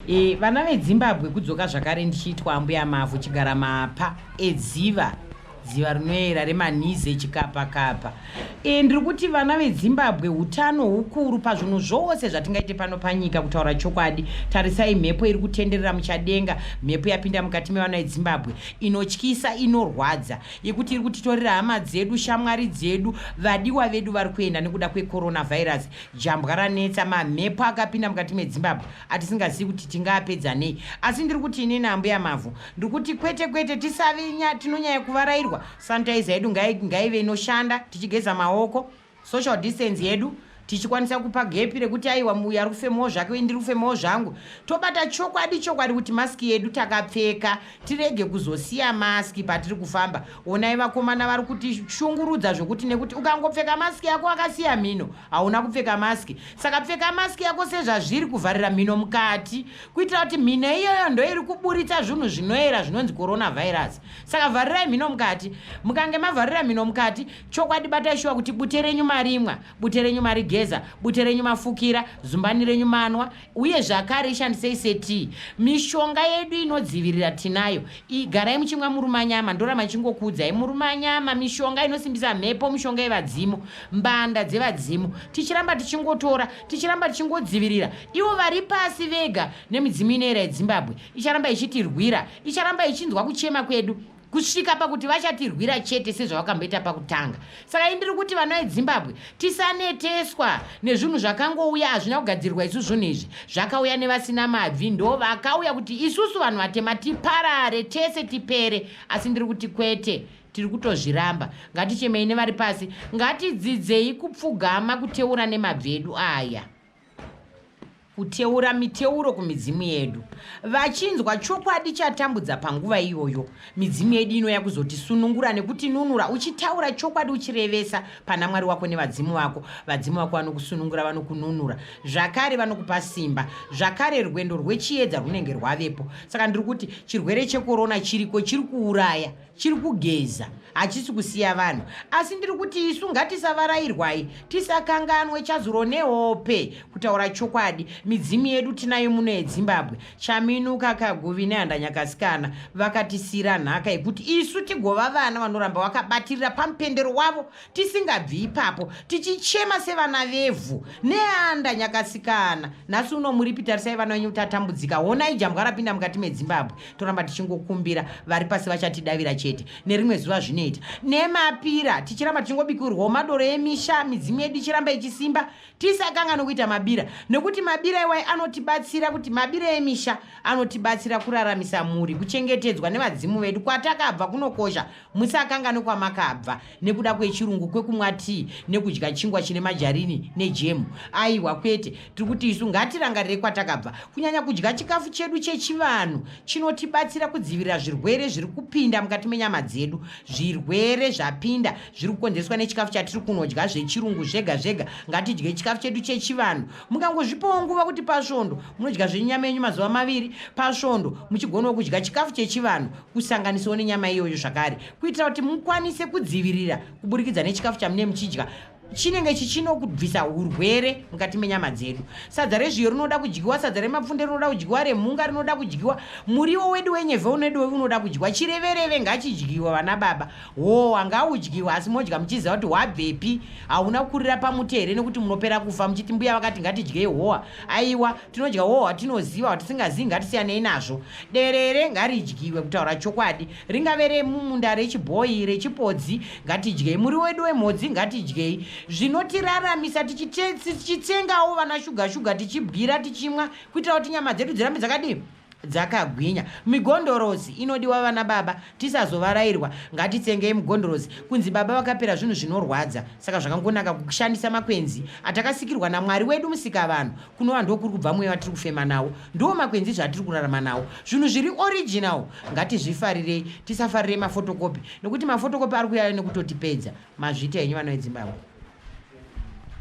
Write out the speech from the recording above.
E, vana vedzimbabwe kudzoka zvakare ndichiitwa ambuya mavhu chigara mapa edziva dziva rinoyera remanize chikapakapa e, ndiri kuti vana vedzimbabwe utano hukuru pazvinhu zvose zvatingaite pano panyika kutaura chokwadi tarisai mhepo iri kutenderera muchadenga mhepo yapinda mukati mevana vedzimbabwe inotyisa inorwadza yekuti iri kutitorera hama dzedu shamwari dzedu vadiwa vedu vari kuenda nekuda kwecoronavirus jambwa ranetsa mamhepo akapinda mukati medzimbabwe atisingazivi kuti tingaapedza nei asi ndiri kuti inini ambuya mavhu ndiri kuti kwete kwete tisavi tinonyaya kuvarairwa sanitizer yedu ngaive inoshanda tichigeza maoko social distance yedu tichikwanisa kupa gepi rekuti aiwa uyu ari kufemawo zvake uye ndiri kufemawo zvangu tobata chokwadi chokwadi kuti maski yedu takapfeka tirege kuzosiya maski patiri kufamba Onai vakomana vari kuti shungurudza zvokuti nekuti ukangopfeka masiki yako akasiya mhino hauna kupfeka masiki saka pfeka masiki yako sezvazviri kuvharira mhino mukati kuitira kuti mhino iyoyo ndoiri kuburitsa zvinhu zvinoera zvinonzi coronavirus saka vharirai mhino mukati mukange mavharira mhino mukati chokwadi batai shuwa kuti bute renyu marimwa bute renyu marigeza bute renyu mafukira zumbani renyu manwa uye zvakare ishandisei setii mishonga yedu inodzivirira tinayo igarai muchimwa murume anyama ndorama ichingokuudzai murume anyama mishonga inosimbisa mhepo mishonga yevadzimu mbanda dzevadzimu tichiramba tichingotora tichiramba tichingodzivirira ivo vari pasi vega nemidzimu inoera yedzimbabwe icharamba ichitirwira icharamba ichinzwa kuchema kwedu kusvika pakuti vachatirwira chete sezvavakamboita pakutanga saka indiri kuti vana vedzimbabwe tisaneteswa nezvinhu zvakangouya hazvina kugadzirirwa isu zvinhu izvi zvakauya nevasina mabvi ndo vakauya kuti isusu vanhu vatema tiparare tese tipere asi ndiri kuti kwete tiri kutozviramba ngatichemei nevari pasi ngatidzidzei kupfugama kuteura nemabvi edu aya kuteura miteuro kumidzimu yedu vachinzwa chokwadi chatambudza panguva iyoyo midzimu yedu inouya kuzotisunungura nekutinunura uchitaura chokwadi uchirevesa pana mwari wako nevadzimu vako vadzimu vako vanokusunungura vanokununura zvakare vanokupa simba zvakare rwendo rwechiedza rwunenge rwavepo saka ndiri kuti chirwere chekorona chiriko chiri kuuraya chiri kugeza hachisi kusiya vanhu asi ndiri kuti isu ngatisavarairwai tisakanganwe chazuro nehope kutaura chokwadi midzimu yedu tinayo muno yedzimbabwe chaminuka kaguvi nehandanyakasikana vakatisiira nhaka yekuti isu tigova vana vanoramba vakabatirira pamupendero wavo tisingabvi ipapo tichichema sevana vevhu neanda nyakasikana nhasi uno muripi tarisai vana venyu kuti atambudzika honai jambwa rapinda mukati medzimbabwe toramba tichingokumbira vari pasi vachatidavira chete nerimwe zuva zvinoita nemapira tichiramba tichingobikirwawo madoro emisha midzimu yedu ichiramba ichisimba tisakanga nokuita mabira nekuti mabira iwai anotibatsira kuti mabira emisha anotibatsira kuraramisa mhuri kuchengetedzwa nevadzimu vedu kwatakabva kunokosha Musakanganwe kwamakabva nekuda kwechirungu kwekumwa tii nekudya chingwa chine majarini nejemu. Aiwa kwete, tiri kuti isu ngatirangarire kwatakabva. Kunyanya kudya chikafu chedu chechivanhu chinotibatsira kudzivirira zvirwere zviri kupinda mukati menyama dzedu. Zvirwere zvapinda zviri kukonzereswa nechikafu chatiri kunodya zvechirungu zvega zvega. Ngatidye chikafu chedu chechivanhu. Mukangozvipawo nguva kuti pasvondo munodya zvenyama yenyu mazuva maviri pasvondo muchigonawo kudya chikafu chechivanhu kusanganisawo nenyama iyoyo zvakare kuitira kuti mukwanise kudzivirira kuburikidza nechikafu chamune muchidya chinenge chichinokubvisa urwere mukati menyama dzedu sadza rezviyo rinoda kudyiwa sadza remapfunde rinoda kudyiwa remhunga rinoda kudyiwa muriwo wedu wenyevhe unedu unoda kudyiwa chirevereve ngachidyiwa vana baba howa ngaudyiwa asi modya muchiziva kuti hwabvepi hauna kukurira pamuti here nekuti munopera kufa muchiti mbuya vakati ngatidyei howa aiwa tinodya wo watinoziva watisingazivi ngatisiyanei nazvo derere ngaridyiwe kutaura chokwadi ringave remumunda rechibhoyi rechipodzi ngatidyei muri wedu wemhodzi ngatidyei zvinotiraramisa tichitsengawo vana shuga shuga tichibwira tichimwa kuitira kuti nyama dzedu dzirambe dzakadii dzakagwinya migondorozi inodiwa vana baba tisazovarairwa ngatitsengei migondorozi kunzi baba vakapera zvinhu zvinorwadza saka zvakangonaka kushandisa makwenzi atakasikirwa namwari wedu musikavanhu kunova ndokuri kubva mweya vatiri kufema nawo ndiwo makwenzi zvatiri kurarama nawo zvinhu zviri original ngatizvifarirei tisafarirei mafotokopi nekuti mafotokopi ari kuyaya nekutotipedza mazvita henyu vana vedzimbabwe